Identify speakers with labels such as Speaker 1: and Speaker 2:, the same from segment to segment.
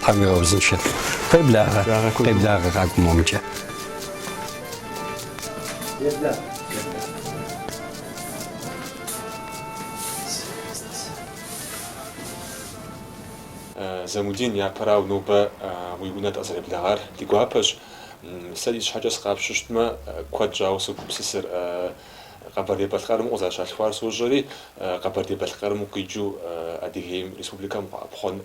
Speaker 1: Тхьэм уигъэузыншэ. Къеблагъэ. Къеблагъэ къакӏуэ
Speaker 2: момкӏэ. Замудин, япэрау нобэ уи унэ дыкъызэреблэгъар ди гуапэщ. Сэ си щхьэкӏэ сыкъапщыщтмэ, куэд щӏауэ согупсысыр. Къэбэрдей-Балъкъэрым укъызэрыщалъхуар сощӏэри, Къэбэрдей-Балъкъэрым укъикӏыу Адыгейм, республикэм укъэӏэпхъуэн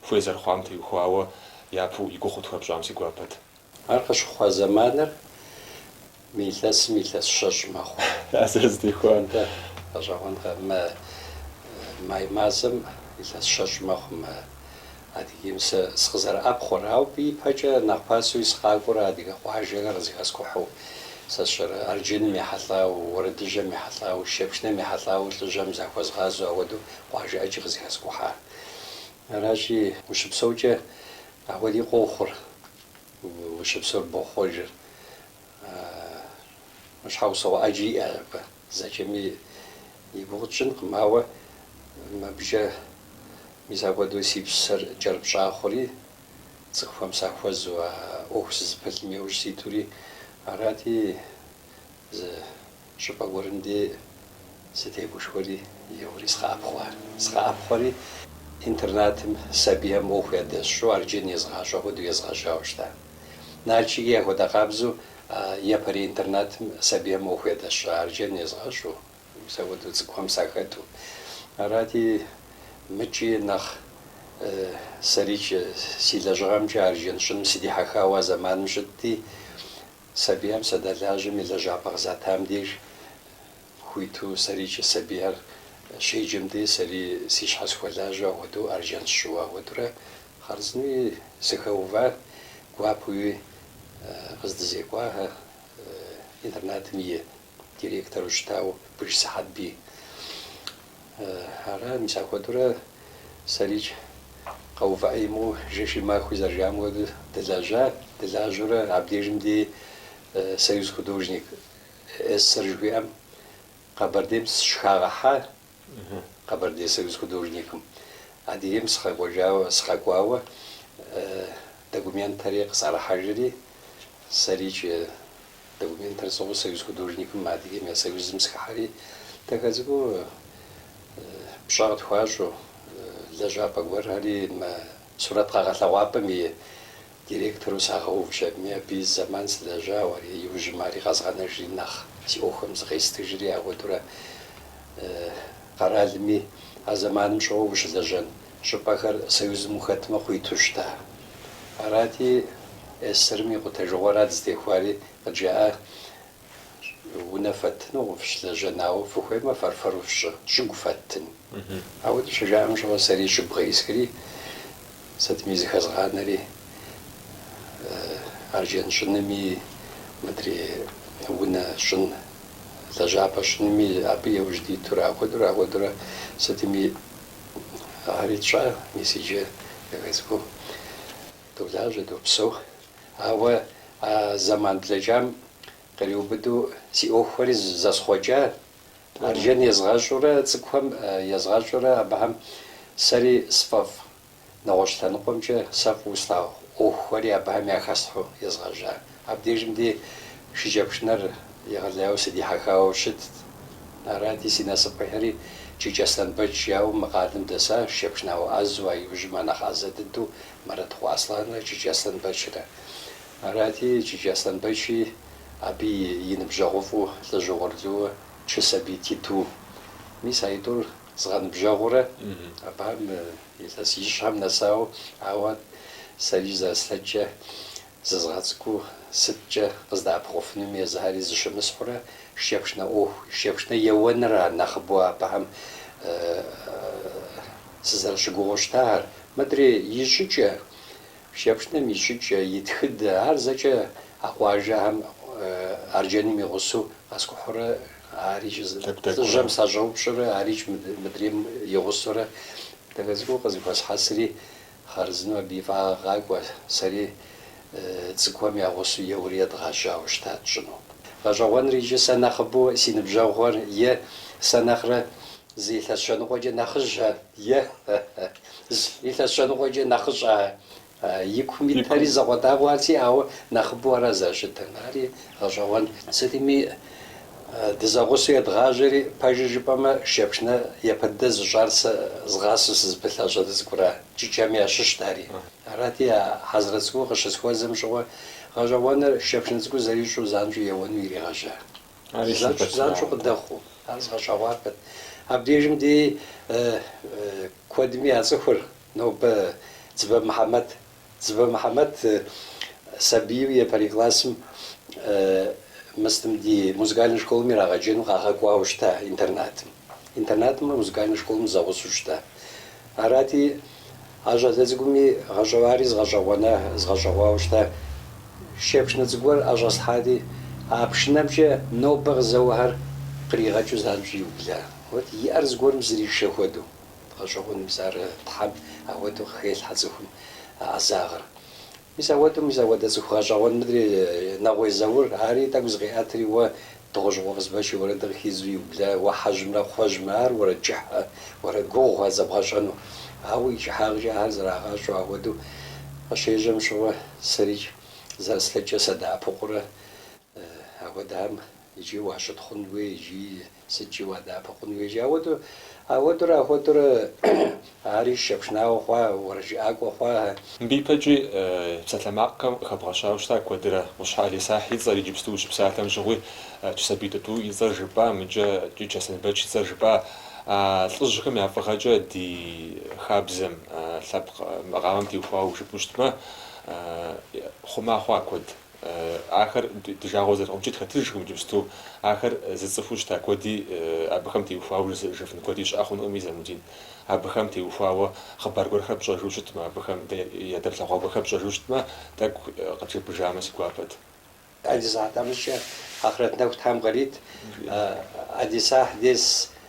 Speaker 2: хуей зэрыхъуам теухуауэ япэу и гугъу тхуэпщӏам си гуапэт. Ар
Speaker 3: къыщыхъуа зэманыр мы илъэсым илъэс щэщӏ мэхъу. Ар
Speaker 2: зэрызэтехуа. Дэ гъэщӏэгъуэнкъэ,
Speaker 3: мы май мазэм илъэс щэщӏ мэхъу мы Адыгейм сэ сыкъызэрыӏэпхъуэрэ, ауэ абы ипэкӏэ нэхъ пасэуи сыкъакӏуэрэ адыгэ къуажэхэр къызыхэскӏухьу. Сэ сщӏэрэ, арджэным ехьэлӏауэ, уэрэдыжьхэм ехьэлӏауэ, шыкӏэпшынэм ехьэлӏауэ лӏыжьэм захуэзгъазэу ахуэдэу къуажэ ӏэджи къызыхэскӏухьа. Аращи, ущыпсэукӏэ ахуэди къохъур, ущыпсэур бохъуэжыр, щхьэусыгъуэ ӏэджи иӏэщ абы. Зэкӏэми и гугъу тщӏынкъым, ауэ мыбыкӏэ мис апхуэдэу си псэр кӏэрыпщӏа хъури, цӏыхухэм сахуэзу а ӏуэху сызыпылъым иужь ситури арати, зы щӏыпӏэ гуэрым дей сытегушхуэри, еуэри сыкъэӏэпхъуа. Сыкъэӏэпхъуэри, интернатым сабийхэм ӏуэху ядэсщӏу, арджэн езгъащӏэ хуэдэу езгъэжьауэ щыта. Налшыки ахуэдэ къабзэу Япэрей интернатым сабийхэм ӏуэху ядэсщӏу арджэн езгъэщӏу, мис апхуэдэу цӏыкӏухэм сахэту. Арати, мыкӏи нэхъ сэрикӏ си лэжьыгъэмкӏэ арджэн щӏыным сыдихьэхауэ а зэманым щытти, сабийхэм садэлажьэми, лэжьапӏэ къызатам деж Хуиту сэрикӏ сабийхэр щеджэм дей сэри си щхьэ схуэлажьэу ахуэдэу арджэн сщӏыуэ ахуэдурэ хъарзынэуи сыхэува, гуапэуи къыздэзекӏуахэ интернатым и директору щытауэ Быж Сыхьэтбий ара, мис ахуэдурэ сэрикӏ къэувыӏэ имыӏэу жэши махуи зэрыжаӏам хуэдэу дылэжьа, дылажьэурэ абдежым дей Союз художник СССР жыхуиӏэм Къэбэрдейм сыщыхагъэхьа, Къэбэрдей союз художникым, Адыгейм сыкъэкӏуэжауэ, сыкъэкӏуауэ документхэри къысӏэрыхьэжри, сэрикӏ документхэр сӏыгъыу союз художникым, Адыгейм я союзым сыхыхьэри, дахэ цӏыкӏуу пщӏэ къытхуащӏу, лэжьапӏэ гуэрхэри мы сурэт къэгъэлъэгъуапӏэм и Директору сагъэувщ абыми, абы и зэман сылэжьауэ, ари иужьым ари къэзгъэнэжри нэхъ, си ӏуэхухэм зыкъестыжри, ахуэдэурэ къэралми а зэманым щӏыгу ущылэжьэн щӏыпӏэхэр Союзым ухэтмэ къуиту щыта. Арати, СССР-м и къутэжыгъуэрат зытехуари, къыджаӏэ. Унэ фэттынукъым, фыщылэжьэнэу фыхуеймэ, фэр-фэру фщӏы, щӏыгу фэттын. Ауэдэу щыжаӏэм щыгъуэ сэри щӏыгу къеӏысхри, сытми зыхэзгъанэри, арджэн щӏынми, мыдрей унэ щӏын, лэжьапӏэ щӏынми абы еужь дитурэ, ахуэдурэ, ахуэдурэ сытми ахэри тщӏа, мис иджы езыхэзгу долажьэ, допсэу. Ауэ а зэман блэкӏам къриубыдэу си ӏуэхухэри зэсхъуэкӏа, Арджэн езгъэщӏурэ цӏыкӏухэм езгъэщӏурэ абыхэм сэри сфӏэфӏ, нэгъуэщӏ лъэныкъуэмкӏэ сэ фӏыуэ слъагъу ӏуэхухэри абыхэм яхэслъхьэу езгъэжьа. Абдежым ди шыкӏэпшынэр егъэлеяуэ сыдихьэхауэ щытт. Арати, си насып къихьри, Кӏыкӏ Аслъэнбэч жаӏэу мы къалэм дэсащ, шэпшнауэ ӏэзэу, а иужьым а нэхъ ӏэзэ дыдэу Мэрэтыкъуэ Аслъанрэ Кӏыкӏ Аслъэнбэчрэ. Арати, Кӏыкӏ Аслъэнбэчи абы и ныбжьэгъуфӏу лӏыжь угъурлыуэ Чэсэбий Титу. Мис а тӏур згъэныбжьэгъуурэ абыхэм илъэс ищхьэм нэсауэ, ауэ сэри зэрыслъэкӏкӏэ Зызгъэцӏыкӏуу сыткӏэ къыздэӏэпыкъуфынум езыхэри зыщымысхьурэ, шэпшнэ ӏуэху, шэпшнэ еуэныр ар нэхъыбэу абыхэм сызэрыщыгугъыу щытагъэр. Мыдрэ и щӏыкӏэ, шэпшнэм и щӏыкӏэ, и тхыдэ, ар зэкӏэ а къуажэхэм арджэным и гъусэу къэскӏухьурэ, арикӏ лӏыжьэм сащӏэупщӏэрэ, арикӏ мыдрейм и гъусэурэ дахэ цӏыкӏуу къызыхуэсхьэсри, Хъарзынэу абы и фӏагъ къэкӏуа, сэри цӏыкӏухэм я гъусэу еуэри едгъэжьауэ щытат щӏыну. Гъэщӏэгъуэныр иджы сэ нэхъыбэу си ныбжьэгъугъэр е сэ нэхърэ зы илъэс щэныкъуэкӏэ нэхъыжь ар, е зы илъэс щэныкъуэкӏэ нэхъыщӏэ ар. И кум итэри закъуэтӏакъуэу ар сиӏауэ нэхъыбэу ара зэрыщытыр. Ари гъэщӏэгъуэн. Сытми Дызэгъусэу едгъажьэри, пэжыр жыпӏэмэ, шэпшнэ япэ дыдэ зыщӏар сэ згъасэу сызыпылъа щӏалэ цӏыкӏура, Кӏыкӏэми ящыщт ари. Арати, а Хьэзрэт цӏыкӏур къыщысхуэзэм щыгъуэ, гъэщӏэгъуэныр шэпшнэ цӏыкӏур зэрищӏу занщӏэу еуэну иригъэжьа. Занщӏэу къыдэхъуу, ар згъэщӏэгъуэпат. Абдежым дей куэдми яцӏыхур нобэ Дзыбэ Мыхьэмэд Дзыбэ Мыхьэмэт сабийуэ япэрей классым мыстым ди музыкальнэ школым ирагъэджэну къагъэкӏуауэ щыта интернатым. Интернатымрэ музыкальнэ школым зэгъусэу щыта. Арати, а щӏалэ цӏыкӏуми гъэщӏэгъу, ари згъэщӏэгъуэна, згъэщӏэгъуауэ щыта. Шыкӏэпшынэ цӏыкӏу гуэр ӏэщӏэслъхьати, а пшынэмкӏэ нобэ къызэуэхэр къригъэкӏыу занщӏэу иубла. Вот, и ӏэр зыгуэрым зришэ хуэдэу. Гъэщӏэгъуэну мис ар Тхьэм ауэдэу къыхелъхьэ цӏыхум а ӏэзагъыр. Мис ауэдэу, мис ауэдэ цӏыху гъэщӏэгъуэн мыдри Нэгъуей Заур, ари тӏэкӏу зыкъиӏэтри, уэ Дыгъужьыкъуэ Къызбэч и уэрэдыр къыхидзу иубла, уэ хьэжьымрэ кхъуэжьымрэ ар уэрэд кӏыхьэ, уэрэд гугъу ар зэбгъэщӏэну. Ауэ и кӏыхьагъкӏэ ар зэрагъащӏэу ауэдэу къыщежьэм щыгъуэ, сэрикӏ зэрыслъэкӏкӏэ сыдэӏэпыкъурэ. Апхуэдэхэм иджы уащытхъун хуей икӏи сыткӏи уадэӏэпыкъу хъун хуей икӏи ауэду, ауэдурэ, ахуэдурэ ари шыкӏэпшынауэ хъуа, уэрэджыӏакӏуэ хъуа. Мыбы
Speaker 2: ипэкӏи псалъэмакъхэм къыхэбгъэщауэ щыта куэдрэ, Къущхьэ Алисахь и цӏэр иджыпсту ущыпсалъэм щыгъуи, Чысабий Тӏутӏу и цӏэр жыпӏа, мыкӏэ Кӏыкӏ Аслъэнбэч и цӏэр жыпӏа, а лӏыжьхэм я фӏыгъэкӏэ ди хабзэм, лъэпкъ макъамэм теухуауэ жыпӏэу щытмэ, хъума хъуа куэд. Ахэр ди жагъуэ зэрыхъумкӏэ тхэтыжкъым иджыпсту. Ахэр зыцӏыхуу щыта куэди абыхэм теухуауэ жыфын куэди щыӏэ хъунукъыми, Замудин. Абыхэм теухуауэ хъыбар гуэрхэр пщӏэжу щытмэ, абыхэм дэ ядэплъэгъуа гуэрхэр пщӏэжу щытмэ, тӏэкӏу къыджепӏэжамэ си гуапэт.
Speaker 3: Алисахь тхьэмыщкӏэ, ахърэт нэху Тхьэм къырит, Алисахь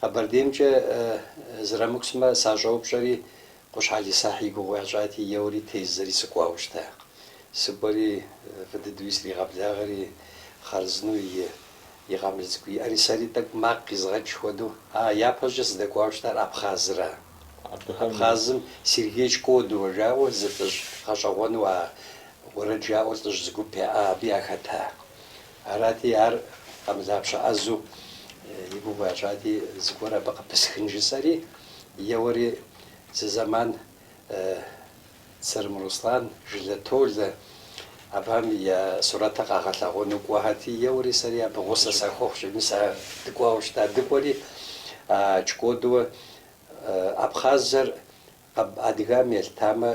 Speaker 3: Къэбэрдеймкӏэ зэрамыкӏусмэ, сащӏэупщӏэри, Къущхьэ Алисахь и гугъу ящӏати, еуэри тездзэри сыкӏуауэ щыта. Сыкӏуэри, фӏы дыдэуи сригъэблагъэри, хъарзынэу и къамыл цӏыкӏу иӏэри сэри тӏэкӏу макъ къизгъэкӏ хуэдэу, а, япэщӏыкӏэ сыдэкӏуауэ щытар Абхъазыра. Абхъазым Сергей Чкодуэ жаӏэу зы лӏыжь гъэщӏэгъуэну а уэрэд жаӏэу лӏыжь зы гуп яӏа, абы яхэта. Арати, ар къамылапщэ ӏэзэу и гугъу ящӏати, зыгуэр абы къыпысхын жысӏэри, еуэри зы зэман Црым Руслан, Жылэ Толэ абыхэм я сурэтыр къагъэлъэгъуэну кӏуэхэрти, еуэри сэри абы гъусэ сахуэхъущ, мис а дыкӏуауэ щыта. Дыкӏуэри, а Чкодуэ Абхъазыр Аб адыгам елъытамэ,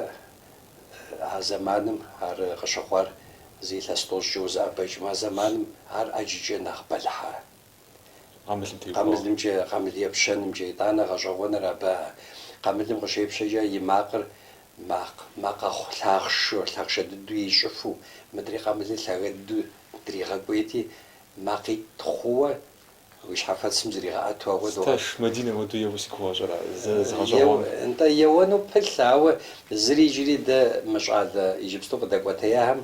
Speaker 3: а зэманым ар къыщыхъуар зы илъэс тӏощӏкӏэ узэӏэбэкӏмэ, а зэманым ар ӏэджыкӏэ нэхъ бэлыхьэ. Къамылым теухуауэ. Къамылымкӏэ, къамыл епщэнымкӏэ, итӏанэ гъэщӏэгъуэныр абы а къамылым къыщепщэкӏэ и макъыр а макъ нэхъ лъахъшэу, лъахъшэ дыдэу ищӏыфу, мыдри къамылыр лъагэ дыдэу дригъэкӏуейти, макъитӏ хъууэ Уи щхьэфэцым зригъэӏэту ауэду. Сташ, Мадинэ
Speaker 2: уэду еуэ си гугъэ щӏэра, зэ згъэщӏэгъуам? Нтӏэ,
Speaker 3: еуэну пылъ, ауэ зыри иджыри дэ мы щӏалэ иджыпсту къыдэкӏуэтеяхэм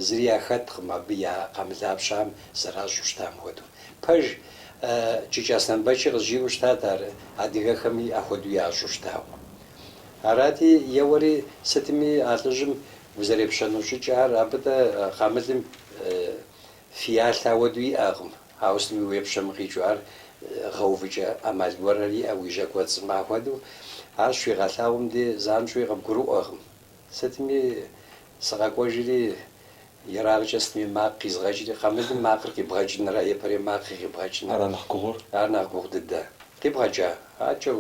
Speaker 3: зыри яхэткъым абы я къамылапщэхэм зэращӏу щытам хуэдэу. Пэж Чыч Аслъэнбэчи къызжиӏэу щытат ар адыгэхэми ахуэдэу ящӏу щытауэ. Арати, еуэри сытми а лӏыжьым узэрепщэну щӏыкӏэхэр абы дэ къамылым Фиялъэ ауэду иӏэкъым, ауэ сытми уепщэми къикӏыу ар гъэувыкӏэ ӏэмал гуэрхэр иӏэ уи жьэ кӏуэцӏым. Ахуэдэу ар щыуигъэлъагъуэм де занщӏэуи къыбгурыӏуэкъым. Сытми сыкъэкӏуэжри, ерагъкӏэ сытми макъ къизгъэкӏри, къамылым макъыр къибгъэкӏынрэ япэрей макъыр къибгъэкӏын ара нэхъ гугъу дыдэ. Къибгъэкӏа, адэкӏэ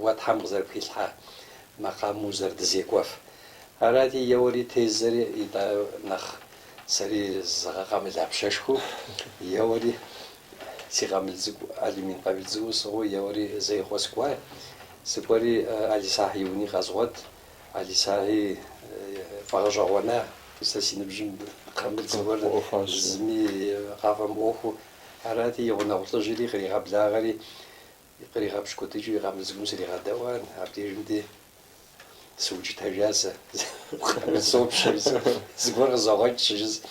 Speaker 3: уэ Тхьэм къызэрыпхилъхьа макъамэм узэрыдызекӏуэф. Арати, еуэри, тездзэри, итӏанэ нэхъ Сэри зызгъэкъамылапщэшхуэу еуэри, си къамыл цӏыкӏу алюмин къамыл цӏыкӏуу сӏыгъыу еуэри Зеикъуэ сыкӏуа. Сыкӏуэри Алисахь и уни къэзгъуэт. Алисахьи фӏэгъэщӏэгъуэна, сэ си ныбжьым къамыл цӏыкӏур зыми къафӏэмыӏуэхуу. Арати, и гъунэгъу лӏыжьри къригъэблагъэри, Къригъэпщ куэдыкӏейуэ и къамыл цӏыкӏум сригъэдэӏуа, абдежым де сыукӏытэжа сэ, сопщэри зыгуэр къызогъэкӏ щыжысӏэ,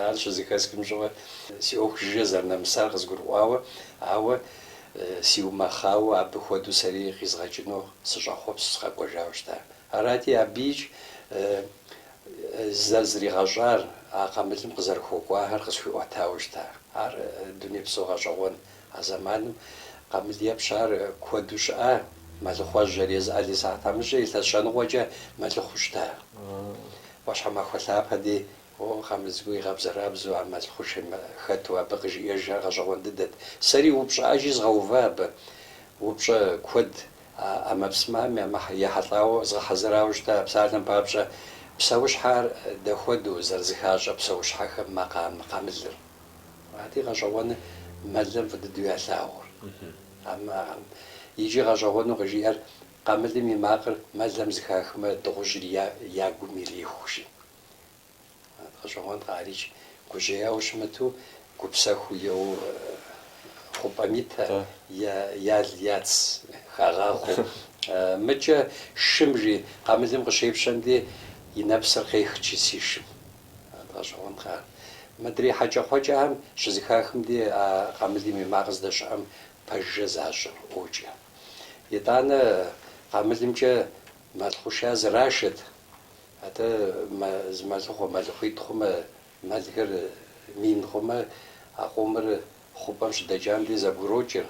Speaker 3: ар щызэхэсхым щыгъуэ, си ӏуэху жыжьэ зэрынэмысар къызгурыӏуауэ, ауэ сиумэхъауэ абы хуэдэу сэри къизгъэкӏыну сыщӏэхъуэпсу сыкъэкӏуэжауэ щыта. Арати, абы икӏи зэрызригъэщӏар, а къамылым къызэрыхуэкӏуахэр къысхуиӏуэтауэ щыта. Ар дунейпсо гъэщӏэгъуэн А зэманым къамыл епщэр куэду щыӏа, мэлыхъуэжьхэр. Езы Алисахь тхьэмыщкӏэр илъэс щэ ныкъуэкӏэ мэлыхъуу щыта. ӏуащхьэмахуэ лъапэ дей О, къамыл цӏыкӏур игъэбзэрабзэу а мэл хъушэм хэту абы къыжиӏэжхэр гъэщӏэгъуэн дыдэт. Сэри упщӏэ ӏэджи згъэува абы. Упщӏэ куэд а ӏэмэпсымэм ехьэлӏауэ, згъэхьэзырауэ щыта, а псалъэм папщӏэ псэущхьэхэр дэ хуэдэу зэрызыхащӏэ псэущхьэхэм макъамэ къамылыр. Ади гъэщӏэгъуэны мэлым фӏыдыдэу ялъагъур. Иджы гъэщӏэгъуэну къыжиӏэр къамылым и макъыр мэлэм зыхахмэ, дыгъужьри я гум ириху, жи. Гъэщӏэгъуэнкъэ ар икӏи гужьеяуэ щымыту, гупсэхуу еу хъупӏэм итэ, ял яц хагъахъуэу. Мыкӏэ шым, жи, къамылым къыщепщэм де и нэпсыр къех, жи, си шым. гъэщӏэгъуэнкъэ ар? Мыдрей хьэкӏэкхъуэкӏэхэм щызыхахым де а къамылым и макъыр здэщыӏэм пэжыжьэ защӏри ӏуокӏ. Итӏанэ къамылымкӏэ мэл хъушэр зэрашэт, атӏэ зы мэлыхъуэ мэлыхъуитӏ хъумэ, мэлхэр мин хъумэ, а къомыр Хъупӏэм щыдэкӏам дей зэбгрокӏыр,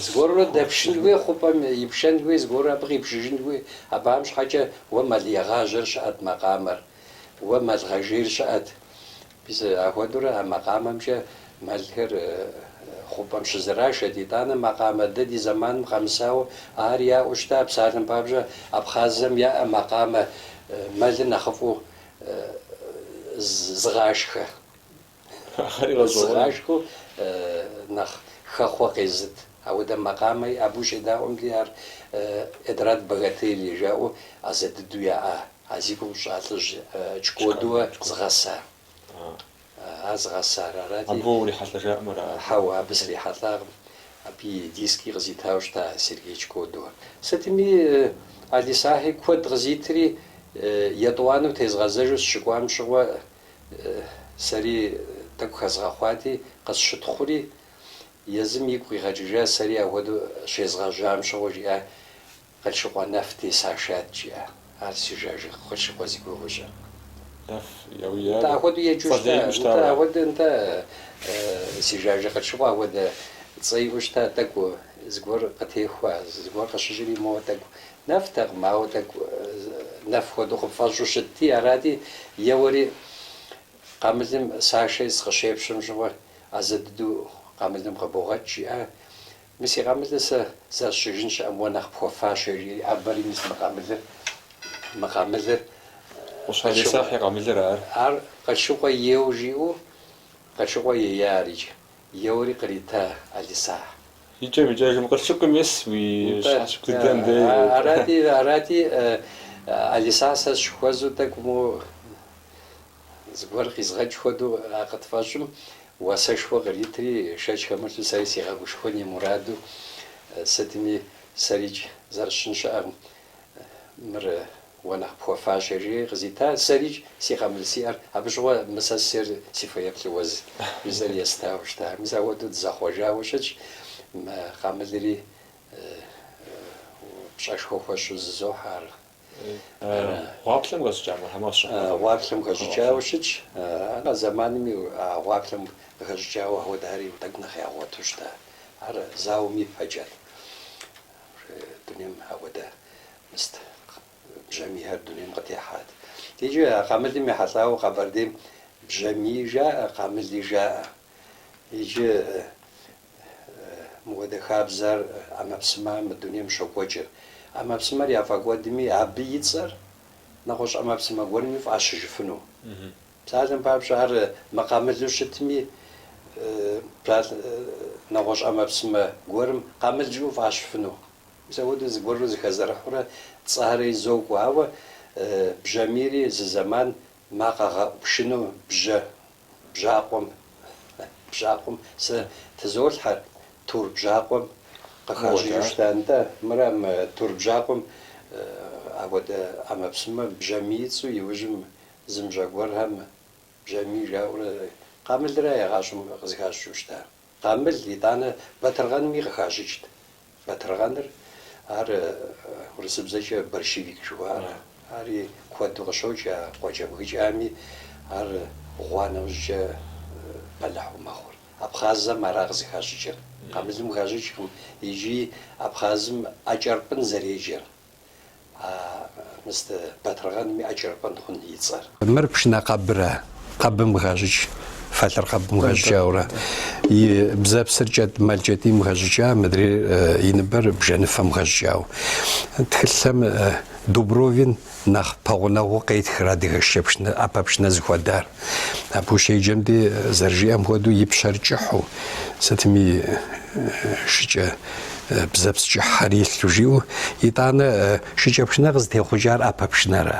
Speaker 3: зыгуэрурэ дэпшын хуей, хъупӏэм ипшэн хуей, зыгуэрурэ абы къипшыжын хуей. Абыхэм щхьэкӏэ уэ мэлегъажьэр щыӏэт макъамэр, уэ мэлгъэжейр щыӏэт. Мис ахуэдэурэ а макъамэмкӏэ мэлхэр хъупӏэм щызэрашэт. Итӏанэ макъамэ дэ ди зэманым къэмысауэ ар яӏэу щыта. Псалъэм папщӏэ, абхъазхэм яӏэ макъамэ мэлыр нэхъыфӏу зыгъашхэ. Зыгъашхэу нэхъ хэхъуэ къезыт. Ауэдэ макъамэ яӏэ. Абы ущедаӏуэм дей, ар Эдрат Багателия жаӏэу ӏэзэ дыдэу яӏа, а зи гугъу сщӏа лӏыжь Чкотуа зыгъэса. Ар зыгъэсар арати. Абы уэ
Speaker 2: урихьэлӏэжауэ ара? Хьэуэ, абы
Speaker 3: срихьэлӏакъым. Абы и диски къызитауэ щыта Сергей Чкотуа. Сытми, Алисахьи куэд къызитри, етӏуанэу тезгъэзэжу сыщыкӏуам щыгъуэ, Сэри тӏэкӏу хэзгъэхъуати, къысщытхъури, езым игу къигъэкӏыжа, сэри ахуэдэу щезгъэжьам щыгъуэ, жиӏа Къылъшыкъуэ нэф тесашат, жиӏа. Ар си жажэ Къылъшыкъуэ зи гугъу ищӏыр.
Speaker 2: Нэф яуяри, Нтӏэ, ахуэдэу еджэу
Speaker 3: щыта, цӏэ лей иӏэу нтӏэ, щытауэ ар? ахуэдэ, нтӏэ, си жажэ Къылъшыкъуэ ахуэдэ цӏэ иӏэу щыта, тӏэкӏу зыгуэр къытехуа, зыгуэр къыщыщӏри, моуэ тӏэкӏу Нэфтэкъым, ауэ тӏэкӏу нэф хуэдэу къыпфӏэщӏу щытти, арати, еуэри къамылым, Сашэи сыкъыщепщэм щыгъуэ, ӏэзэ дыдэу къамылым къыбогъэкӏ, жиӏа. Мис и къамылыр, сэ зэрысщӏыжын щыӏэм уэ нэхъ пхуэфащэ, жи Абэри, мис мы къамылыр, мы къамылыр. Къущхьэ
Speaker 2: Алисахь и къамылыр ар. Ар Къылъшыкъуэ
Speaker 3: ейуэ жиӏэу Къылъшыкъуэ ея ар иджы. Еуэри кърита Алисахь. Икӏэм
Speaker 2: икӏэжым Къылъшыкъуэм ес уи щхьэщ быдэм дэ. Арати, арати,
Speaker 3: Алисахь сэ сыщыхуэзу тӏэкӏу моу зыгуэр къизгъэкӏ хуэдэу а къытфӏэщӏым уасэшхуэ къритри, шэч хэмылъу сэри сигъэгушхуэн и мураду сытми сэрикӏ зэрысщӏын щыӏэкъым. Мыр уэ нэхъ пхуэфащэ, жиӏэри къызита. Сэрикӏ, си къамыл сиӏэр. Абы щыгъуэ мы сэ сысейр си фэеплъу уэ, жысӏэри естауэ щыта. Мис ауэдэу дызэхъуэжауэ щытщ. Мы къамылри пщӏэшхуэ хуэсщӏу зызохьэ ар. Гъуаплъэм хэщӏыкӏа
Speaker 2: Мухьэмэд щыхъуэхъуми? Гъуаплъэм
Speaker 3: хэщӏыкӏауэ щытщ. А зэманми а гъуаплъэм хэщӏыкӏауэ ауэдэхэри тӏэкӏу нэхъ ягъуэту щыта. Ар зауэм ипэкӏэт. Дунейм апхуэдэ мыст бжьамийхэр дунейм къытехьат. Иджы а къамылым ехьэлӏауэ Къэбэрдейм бжьамий жаӏэ, къамыли жаӏэ. Иджы мыуэдэ хабзэр ӏэмэпсымэм я дунейм щокӏуэкӏыр. ӏэмэпсымэр яфӏэкӏуэдми, абы и цӏэр нэгъуэщӏ ӏэмэпсымэ гуэрми фӏащыжыфыну. Псалъэм папщӏэ, ар мыкъамылу щытми, псалъэ нэгъуэщӏ ӏэмэпсымэ гуэрым къамыл жыӏэу фӏащыфыну. Мис апхуэдэу зыгуэрурэ зыхэзэрыхьурэ цӏэхэри зокӏуэ. Ауэ бжьамийри зы зэман макъэгъэӏу пшыну бжьэ бжьакъуэм, бжьакъуэм сэ тызолъхьэ, тур бжьакъуэм къыхащӏыкӏыу щыта. Нтӏэ, мыра мы тур бжьакъуэм апхуэдэ ӏэмэпсымэ бжьамий и цӏэу иужьым Зымыщӏэ гуэрхэм Бжьамий жаӏэурэ къамылра игъащӏэм къызыхащӏыкӏыу щыта. Къамыл, итӏанэ, батыргъэнми къыхащӏыкӏт. Батыргъэныр, ар урысыбзэкӏэ борщевик жыхуаӏэр, ари куэду къыщокӏ а къуэкӏэбгыкӏэми, ар гъуа нэужькӏэ бэлыхьу мэхъур. Абхъазэм ара къызыхащӏыкӏыр. Къамылым хащӏыкӏкъым икӏи Абхъазым ӏэкӏэрпӏын зэреджэр. А мыст батыргъэным и ӏэкӏэрпӏын хъун и цӏэр. Мыр
Speaker 1: пшынэ къэбра, къэбым хащӏыкӏ, фалъэр къэбым хэщӏыкӏауэрэ, и бзэпсыр кӏэтӏ, мэл кӏэтӏийм хэщӏыкӏа, мыдрейр и ныбэр бжэныфэм хэщӏыкӏауэ. Тхылъхэм Дубровин нэхъ пэгъунэгъуу къетхыр адыгэ шыкӏэ пшынэ, ӏэпэ пшынэ зыхуэдар. Абы ущеджэм де, зэрыжиӏэм хуэдэу, и пщэр кӏыхьу, сытми шыкӏэ. Бзэпс кӏыхьхэр илъу жиӏэу, итӏанэ шыкӏэпшынэ къызытехъукӏар ӏэпэ пшынэра?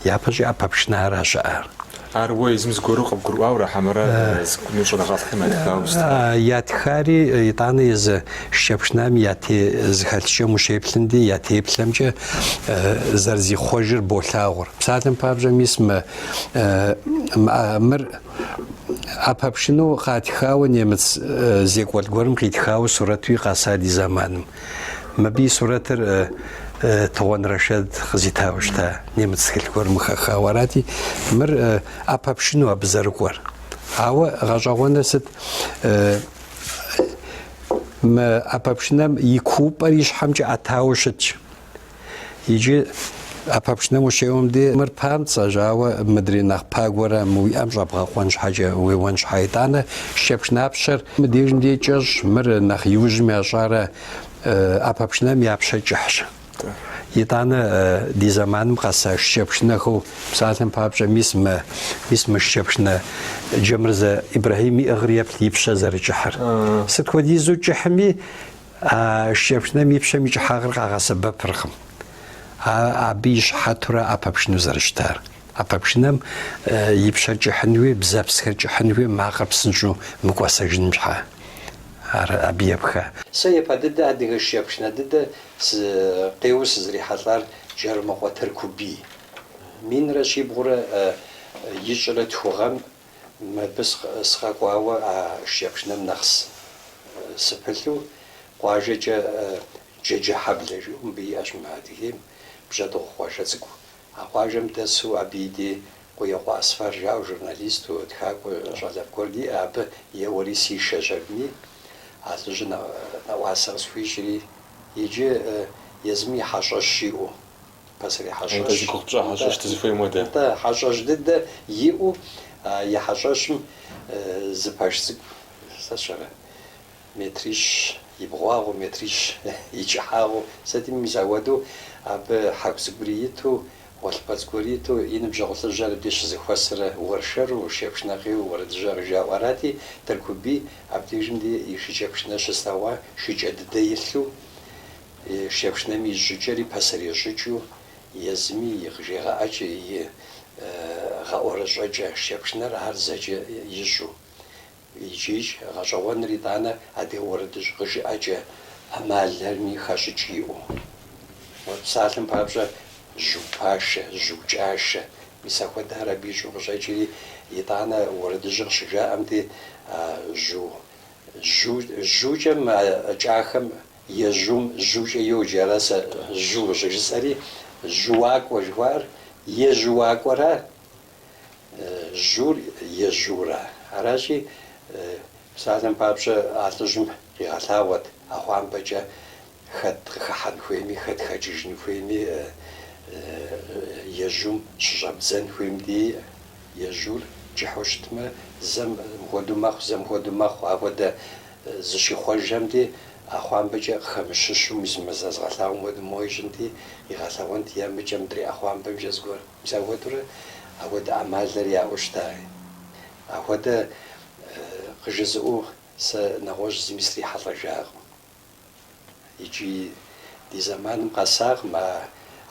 Speaker 1: Япэщӏыкӏэ ӏэпэ пшынэ ара щыӏар? Ар уэ езым
Speaker 2: зыгуэру къыбгурыӏуауэ ара хьэмэрэ зыгуэру щӏэныгъэлӏхэм ятхауэ щытар?
Speaker 1: Ятхари, итӏанэ езы шыкӏэпшынэми я те зэхэлъыкӏэм ущеплъым де, я теплъэмкӏэ зэрызихъуэжыр болъагъур. Псалъэм папщӏэ, мис мы мыр ӏэпэпшынэу къатхауэ немыц зекӏуэлӏ гуэрым къитхауэ сурэтуи къэса ди зэманым. Мыбы и сурэтыр Тыгъуэн Рэшэд къызитауэ щыта немыц тхылъ гуэрым къыхэхауэ арати, мыр ӏэпэпшыну абы зэрыкӏуэр. Ауэ гъэщӏэгъуэныр сыт? Мы ӏэпэпшынэм и куупӏэр и щхьэмкӏэ ӏэтауэ щытщ. Иджы ӏэпэпшынэм ущеуэм де мыр памцӏэщ, ауэ мыдрей нэхъ пагуэрэ мы уи ӏэм щӏэбгъэкъуэн щхьэкӏэ уеуэн щхьэ итӏанэ шыкӏэпшынэ пщэр мыбдежым де кӏэщӏ, мыр нэхъ иужьым ящӏара, ӏэпэпшынэм я пщэ кӏыхьщ. Итӏанэ ди зэманым къэса шыкӏэпшынэхэу псалъэм папщӏэ мис мы мис мы шыкӏэпшынэ Джэмырзэ Ибрахьим иӏыгъыр еплъ и пщэ зэрыкӏыхьыр. Сыт хуэдизу кӏыхьми А шыкӏэпшынэм и пщэм и кӏыхьагъыр къагъэсэбэпыркъым абы и щыхьэтурэ ӏэпэпшыну зэрыщытар. ӏэпэпшынэм и пщэр кӏыхьын хуей, бзэпсхэр кӏыхьын хуей, макъыр псынщӏэу мыкӏуэсэжыным щхьа ар абы епха. Сэ япэ
Speaker 3: дыдэ адыгэ шыкӏэпшынэ дыдэ къеуэу сызэрихьэлӏар Джэрымыкъуэ Тыркубий. Минрэ щибгъурэ ищӏрэ тху гъэм Мыбы сыкъэкӏуауэ а шыкӏэпшынэм нэхъ сыпылъу, къуажэкӏэ Джэджэхьэблэ жиӏэу мыбы иӏэщ мы Адыгейм, бжьэдыгъу къуажэ цӏыкӏу. А къуажэм дэсу абы и дей Къуекъуэ Асфар жаӏэу журналисту, тхакӏуэ щӏалэфӏ гуэр диӏэ, абы еуэри сишэщ аби, а лӏыжьыр нэӏуасэ къысхуищӏри, иджы езым и хьэщӏэщ иӏэу. Пасэрей хьэщӏэщ. Нтӏэ, зи гугъу пщӏэ хьэщӏэщ
Speaker 2: дызыхуейм хуэдэ. Нтӏэ, хьэщӏэщ
Speaker 3: дыдэ иӏэу а и хьэщӏэщым зы пэш цӏыкӏу, сэ сщӏэрэ, метрищ и бгъуагъыу, метрищ и кӏыхьагъыу, сытми мис ахуэдэу, абы хьэку цӏыкӏури иту, гъуэлъыпӏэ цӏыкӏури иту, и ныбжьэгъу лӏыжьхэр абди щызыхуэсрэ, уэршэру, шыкӏэпшынэ къеуэу, уэрэдыжьхэр къыжаӏэу арати, Тыркубий абдежым дей и шыкӏэпшынэ щыслъэгъуа шыкӏэ дыдэ илъу, Шыкӏэпшынэм и щӏыкӏэри пасэрей щӏыкӏэу езыми и къыжегъэӏэкӏэ, и гъэӏуэрэщӏэкӏэ шыкӏэпшынэр ар зэкӏэ ищӏэу. Икӏи-икӏ гъэщӏэгъуэныр итӏанэ адыгэ уэрэдыжь къыжыӏэкӏэ ӏэмалэрми хэщӏыкӏ иӏэу. Уэ псалъэм папщӏэ жьу пашэ, жьу кӏашэ, мис ахуэдэр абы ищӏэу къыщӏэкӏри, итӏанэ уэрэдыжьыр къыщыжаӏэм дей, а жьу, жьу, жьукӏэм а кӏахэм Ежьум жьукӏэ йоджэ, ара сэ жьу щӏыжысӏэри, жьуакӏуэ жыхуаӏэр ежьуакӏуэра, жьур ежьура. Аращи, псалъэм папщӏэ, а лӏыжьым къигъэлъагъуэт ӏэхъуамбэкӏэ хэт къыхыхьэн хуейми, хэт хэкӏыжын хуейми, ежьум щыщӏэбдзэн хуейм дей, ежьур кӏыхьу щытмэ, зэм мыхуэдэу мэхъу, зэм мохуэдэу мэхъу, ахуэдэ. Зыщихъуэжым дей, ӏэхъуамбэкӏэ къыхэмыщыщу мис мы сэ згъэлъагъуэм хуэдэу моуэ ищӏынти, игъэлъэгъуэнт е мыкӏэ мыдрей ӏэхъуамбэмкӏэ зыгуэр. Мис ахуэдэурэ ахуэдэ ӏэмалхэр яӏэу щытаи? Ахуэдэ къыжызыӏэу сэ нэгъуэщӏ зыми срихьэлӏэжакъым. Икӏи ди зэманым къэсакъым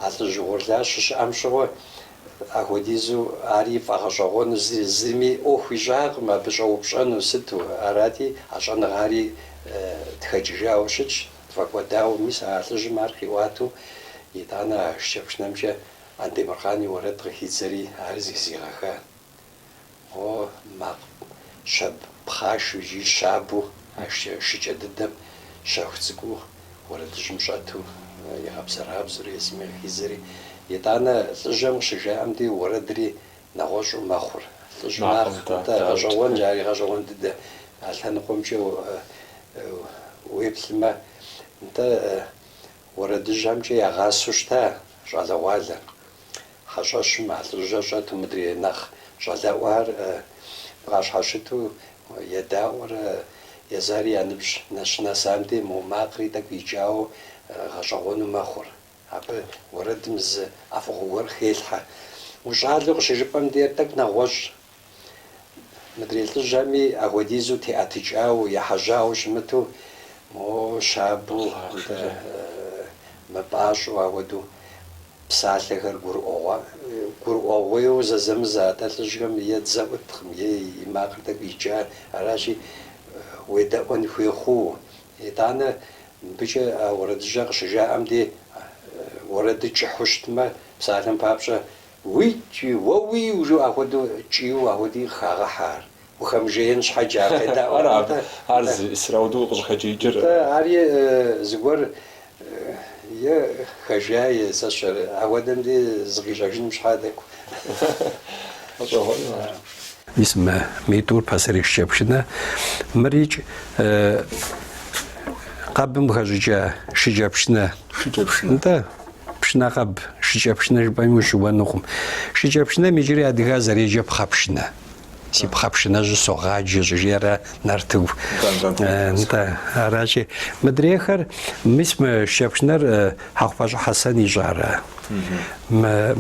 Speaker 3: а лӏыжь угъурлыр щыщыӏэм щыгъуэ, ахуэдизу ари фӏэгъэщӏэгъуэну зыми ӏуэху ищӏакъым абы щӏэупщӏэну сыту, арати, а щӏэныгъари тхэкӏыжауэ щытщ, тфӏэкӏуэдауэ, мис а лӏыжьым ар къиӏуатэу, итӏанэ а шыкӏэпшынэмкӏэ Андемыркъан и уэрэд къыхидзэри, ари зыхызигъэха. О, макъ, щабэ пхъашэу икӏи щабэу а шыкӏэ дыдэм щэху цӏыкӏуу уэрэдыжьым щӏэту игъэбзэрабзэурэ езыми къыхидзэри, итӏанэ лӏыжьэм къыщыжаӏэм дей уэрэдри нэгъуэщӏу мэхъур. Лӏыжь макъ, атӏэ гъэщӏэгъуэнщ, ари гъэщӏэгъуэн дыдэ. А лъэныкъуэмкӏэ уеплъмэ, нтӏэ, уэрэдыжьхэмкӏэ ягъасэу щыта щӏалэгъуалэр. Хьэщӏэщым а лӏыжьыр щӏэту мыдрей нэхъ щӏалэӏуар бгъащхьэщыту едаӏуэрэ, езари я ныбжь нэщынэсам дей мо макъри тӏэкӏу икӏауэ гъэщӏэгъуэну мэхъур. Абы уэрэдым зы ӏэфӏыгъуэ гуэр хелъхьэ. Ущӏалэу къыщыжыпӏэм дей тӏэкӏу нэгъуэщӏ Мыдрей лӏыжьхэми ахуэдизу теӏэтыкӏауэ, ехьэжьауэ щымыту, моуэ щабэу, мыпӏащӏэу ахуэдэу псалъэхэр гурыӏуэгъуа, гурыӏуэгъуейуэ зэзэмызэ. Атӏэ лӏыжьхэм е дзэ ӏуткъым, е и макъыр тӏэкӏу икӏа. Аращи, уедэӏуэн хуей хъууэ. Итӏанэ мыбыкӏэ а уэрэдыжьэр къыщыжаӏэм дей, уэрэдыр кӏыхьу щытмэ, псалъэм папщӏэ, Уикӏи, уэ уи ужу ахуэдэу кӏийуэ ахуэди къыхагъэхьэр. Ухэмыжеин щхьэкӏэ ар къедаӏуэр ар. Ара ар зы
Speaker 2: Исрауду укъыщӏыхэкӏиикӏыр? Нтӏэ, ари
Speaker 3: зыгуэр е хэжея е сэ сщӏэрэ, ахуэдэм де зыкъищӏэжыным щхьэ тӏэкӏу.
Speaker 1: Гъэщӏэгъуэну ар. Мис мы, мы тӏур пасэрей шыкӏэпшынэ, мырикӏ къэбым къыхэщӏыкӏа шыкӏэпшынэ. Шыкӏэпшынэ. Нтӏэ. Пшынэ къэб, шыкӏэпшынэ жыпӏэми ущыуэнукъым. Шыкӏэпшынэм иджыри адыгар зэреджэ пхъэпшынэ. Си пхъэпшынэжьы согъаджэ щӏыжиӏэр ара Нартыгу. Нтӏэ, аращи, мыдрейхэр, мис мы шыкӏэпшынэр Хьэхъупащӏэ Хьэсэн ищӏара?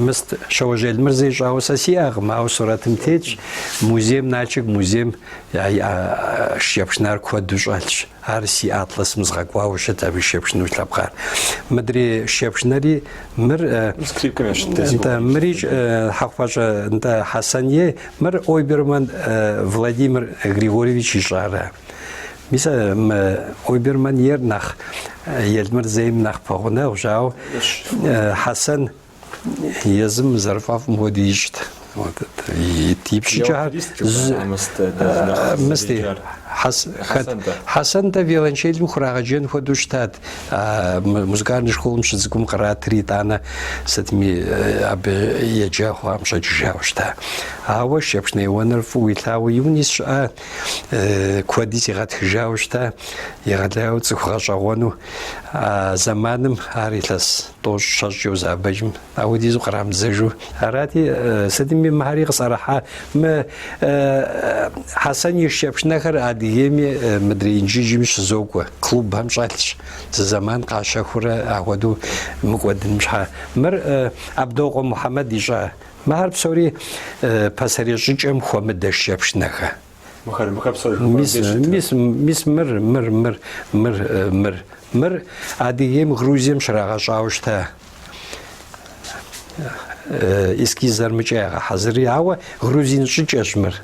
Speaker 1: Мыст, Щэуэжь Елмырзэ ищӏауэ сэ сиӏэкъым, ауэ сурэтым тетщ, музейм, Налшык музейм я шыкӏэпшынар куэду щӏэлъщ. Ар си атласым згъэкӏуауэ щыт абы шыкӏэпшынэу лъэпкъар. Мыдрей шыкӏэпшынэри, мыр, нтӏэ, мырикӏ Хьэхъупащӏэ, нтӏэ, Хьэсэн ей, мыр Ойберман Владимир Григорьевич ищӏара? Мис а мы Ойберман ейр нэхъ Елмырзэ ейм нэхъ пэгъунэгъущ, ауэ Хьэсэн Езым зэрыфӏэфӏым хуэдэу ищӏт. Ипщӏыкӏэхэр мысти, Хьэсэн, нтӏэ, виолончелым хурагъэджэн хуэдэу щытат. Музыкальной школым щыцӏыкӏум къратри, итӏанэ сытми абы еджа хъуам щӏэкӏыжауэ щыта. Ауэ шыкӏэпшынэ еуэныр фӏыуэ илъагъуу и унэ сыщыӏа, куэди сигъэтхыжауэ щыта, егъэлеяуэ цӏыху гъэщӏэгъуэну. А зэманым ар илъэс тӏощӏ щэщӏкӏэ узэӏэбэкӏыжмэ, ахуэдизу кърамыдзэжу. Арати, сытми мыхьэри къысӏэрыхьа. Мы Хьэсэн и шыкӏэпшынэхэр Адыгейми мыдрей Инжыджми щызокӏуэ, клубхэм щӏэлъщ, зы зэман къащэхурэ ахуэдэу мыкӏуэдыным щхьэ. Мыр Абдокъуэ Мухьэмэд ищӏа. Мыхьэр псори пасэрей щӏыкӏэм хуэмыдэ шыкӏэпшынэхэ. Мис мыр, мыр, мыр, мыр, э, мыр, мыр Адыгейм, Грузием щрагъэщӏауэ щыта э, эскизыр мыкӏэ ягъэхьэзыри, ауэ грузин щӏыкӏэщ мыр.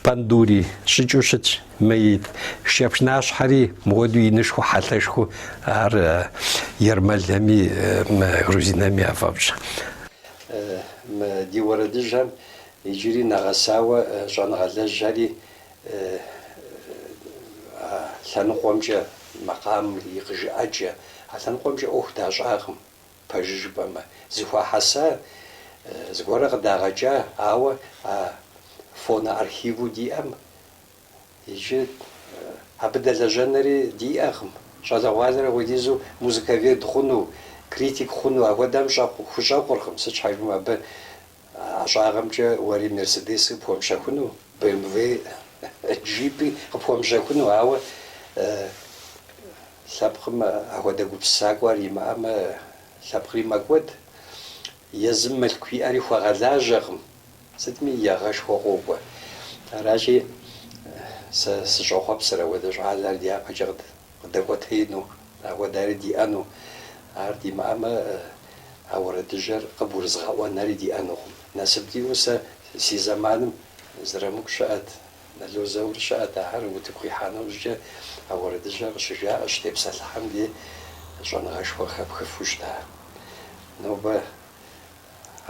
Speaker 1: Пандури щӏыкӏэу щытщ, мэит шыкӏэпшынащхьэри мыхуэдэу инышхуэу хьэлъэшхуэу ар э, ермэлэми грузинэми яфӏэфӏщ.
Speaker 3: Ди уэрэдыжьхэм Иджыри нэгъэсауэ щӏэныгъэлэжьхэри а лъэныкъуэмкӏэ, макъамым и къыжыӏэкӏэ, а лъэныкъуэмкӏэ ӏуэху дащӏакъым, пэжыр жыпӏэмэ. Зэхуахьэса зыгуэрэ къыдагъэкӏа, ауэ а фоноархиву диӏэм иджы абы дэлэжьэнэри диӏэкъым. Щӏалэгъуалэр апхуэдизу музыковед хъуну, критик хъуну ахуэдэм щӏэкъу, хущӏэкъуркъым, сыт щхьэ жыпӏэмэ абы А ӏэщӏагъэмкӏэ уэри Мерседеси къыпхуэмыщэхуну, БМВ-и, Джипи къыпхуэмыщэхуну, ауэ лъэпкъым ахуэдэ гупсысакӏуэр имыӏэмэ, лъэпкъри мэкӏуэд. Езым мылъку иӏэри хуэгъэлажьэкъым, сытми егъэшхуэ къокӏуэ. Аращи, сэ сыщӏэхъуэпсыр апхуэдэ щӏалэр дяпэкӏэ къыдэкӏуэтеину, апхуэдэри диӏэну, ар димыӏэмэ, а уэрэдыжьэр къыбгурызыгъэӏуэнэри диӏэнукъым. Насып диӏэу сэ си зэманым Зырамыку щыӏэт, Нало Заур щыӏэт, ахэр утыку къихьа нэужькӏэ а уэрэдыжьэр къыщыжаӏэ, щытепсэлъыхьэм дей щӏэныгъэшхуэ къыхэпхыфу щыта. Нобэ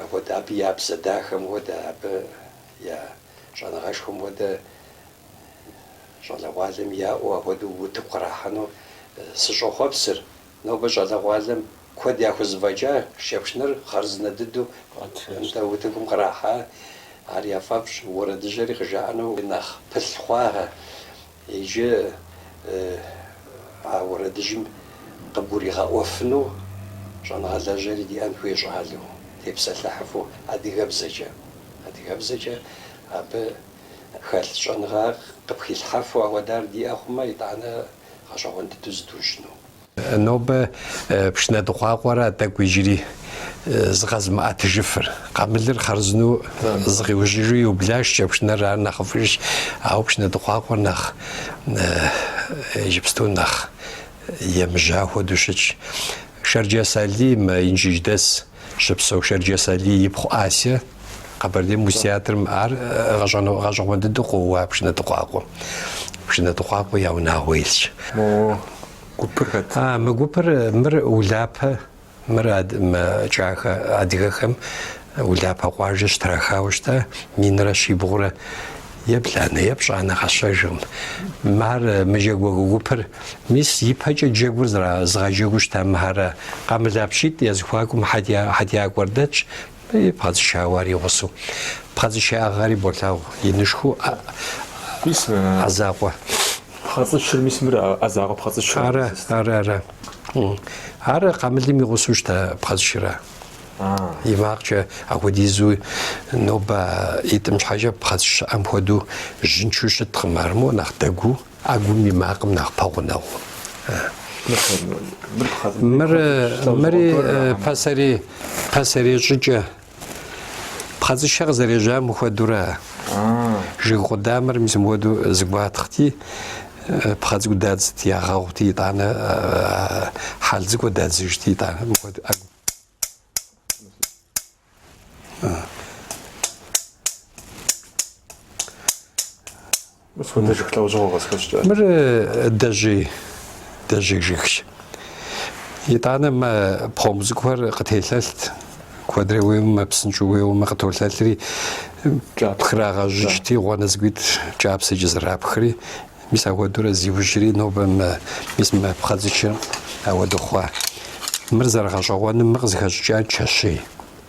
Speaker 3: апхуэдэ, абы я бзэ дахэм хуэдэ, абы я щӏэныгъэшхуэм хуэдэ Щӏалэгъуалэм яӏэу апхуэдэу утыку кърахьэну сыщӏэхъуэпсыр. Нобэ щӏалэгъуалэм куэд яхузэфӏэкӏа шыкӏэпшынэр хъарзынэ дыдэу нтӏэ утыкум кърахьа. Ар яфӏэфӏщ уэрэдыжьэри къыжаӏэну нэхъ пылъ хъуахэ. Иджы а уэрэдыжьым къыбгуригъэӏуэфыну щӏэныгъэлэжьэри диӏэн хуей щӏалэу, тепсэлъыхьыфу адыгэбзэкӏэ. Адыгэбзэкӏэ абы хэлъ щӏэныгъэ къыпхилъхьэфу ауэдар диӏэ хъумэ, итӏанэ гъэщӏэгъуэн дыдэу зыдужьыну. Нобэ
Speaker 1: пшынэ дыкъуакъуэра тӏэкӏу иджыри зыкъэзымыӏэтыжыфыр. Къамылыр хъарзынэу зыкъиужьыжу иубла, шыкӏэпшынэр ар нэхъыфӏыжщ, ауэ пшынэ дыкъуакъуэр нэхъ иджыпсту нэхъ емыжьа хуэдэу щытщ. Шэрджэс Алий, мы Инжыдж дэс. Щыпсэу Шэрджэс Алий ипхъу Ася Къэбэрдей музтеатрым ар гъэщӏэгъуэн дыдэу къоуэ пшынэ дыкъуакъуэм. Пшынэ дыкъуакъуэ я унагъуэ илъщ. Мо гупыр хэт? А, мы гупыр мыр Улапэ, мыр мы кӏахэ адыгэхэм Улапэ къуажэ щытрахауэ щыта, минрэ щибгъурэ ебланэ, епщӏанэ, къэсщӏэжкъым. Мыхьэр, мы джэгуакӏуэ гупыр, мис, ипэкӏэ джэгур зыгъэджэгуу щыта мыхьэра, къамылапщитӏ я зэхуакум хьэтиякӏуэр дэтщ, мыри пхъэцӏычауэри гъусэу. Пхъэцӏыч иӏыгъри болъагъу, инышхуэу ӏэ закъуэ пхъэцӏычыр, мис, мыр ӏэ
Speaker 2: закъуэ пхъэцӏычыращ. Ара, ара,
Speaker 1: ара. Ар къамылым и гъусэу щыта пхъэцӏычыращ. И макъкӏэ апхуэдизу нобэ ӏитӏым щхьэкӏэ пхъэцӏыч щыӏэм хуэдэу жьынчу щыткъым, армыу нэхъ дэгуу ӏэгум и макъым нэхъ пэгъунэгъуу. Мыр мыри пасэрей, пасэрей щӏыкӏэ пхъэцӏычыр къызэрежьам хуэдура, жыг къудамэр мис мыхуэдэу зэгуатхъти Пхъэ цӏыкӏу дадзти, ягъэгъути, итӏанэ хьэл цӏыкӏу дадзыжти, итӏанэ мыхуэдэу ӏэгу. Мыхуэдэ жыг лӏэужьыгъуэ къызыхэщӏыкӏа. Мыр дэжьей, дэжьей жыгщ. Итӏанэ мы пхъэмбгъу цӏыкӏухэр къытелъэлът. Куэдрэ уеуэмэ, псынщӏэу уеуэмэ къытолъэлъри, пхрагъэжьыкӏти, гъуанэ цӏыкӏуитӏ кӏапсэкӏэ зэрапхри, мис ахуэдурэ зиужьри, нобэ мы, мис мы пхъэцӏычыр ауэду хъуа. Мыр зэрыгъэщӏэгъуэным мы къызыхэщӏыкӏар чэщей,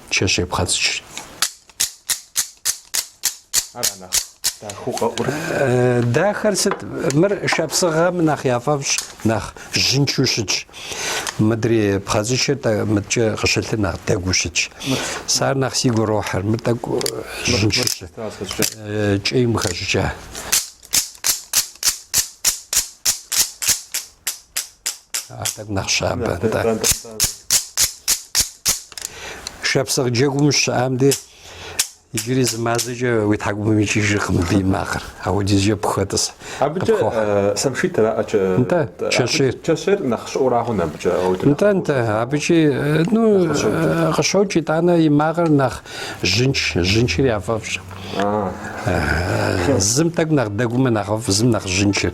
Speaker 1: чэщей пхъэцӏычри. Ара нэхъ? Дахэу къэӏур. Дахэр сыт? Мыр шапсыгъэм нэхъ яфӏэфӏщ, нэхъ жьынчу щытщ. Мыдрей пхъэцӏычыр мыдкӏэ къыщылъыр нэхъ дэгуу щытщ. Сар нэхъ сигу рохьыр, мыр тӏэкӏу жьынчу щыт. Кӏейм хэщӏыкӏа. Ар тӏэкӏу нэхъ щабэ. Шапсыгъ джэгум щыщыӏам де Иджыри зы мазэкӏэ уи тхьэкӏумэм икӏыжыркъым абы и макъыр. Апхуэдизкӏэ пхуэтӏыс.
Speaker 2: Абыкӏэ самшит аракӏэ. Нтӏэ, чэщейр. Чэщейр нэхъ щӏыӏурагъуэнщ абыкӏэ ауэ. Нтӏэ, нтӏэ,
Speaker 1: абыкӏи ну къыщокӏ, итӏанэ и макъыр нэхъ жьынч, жьынчыр яфӏэфӏщ. Зым тӏэкӏу нэхъ дэгумэ нэхъыфӏ, зым нэхъ жьынчыр.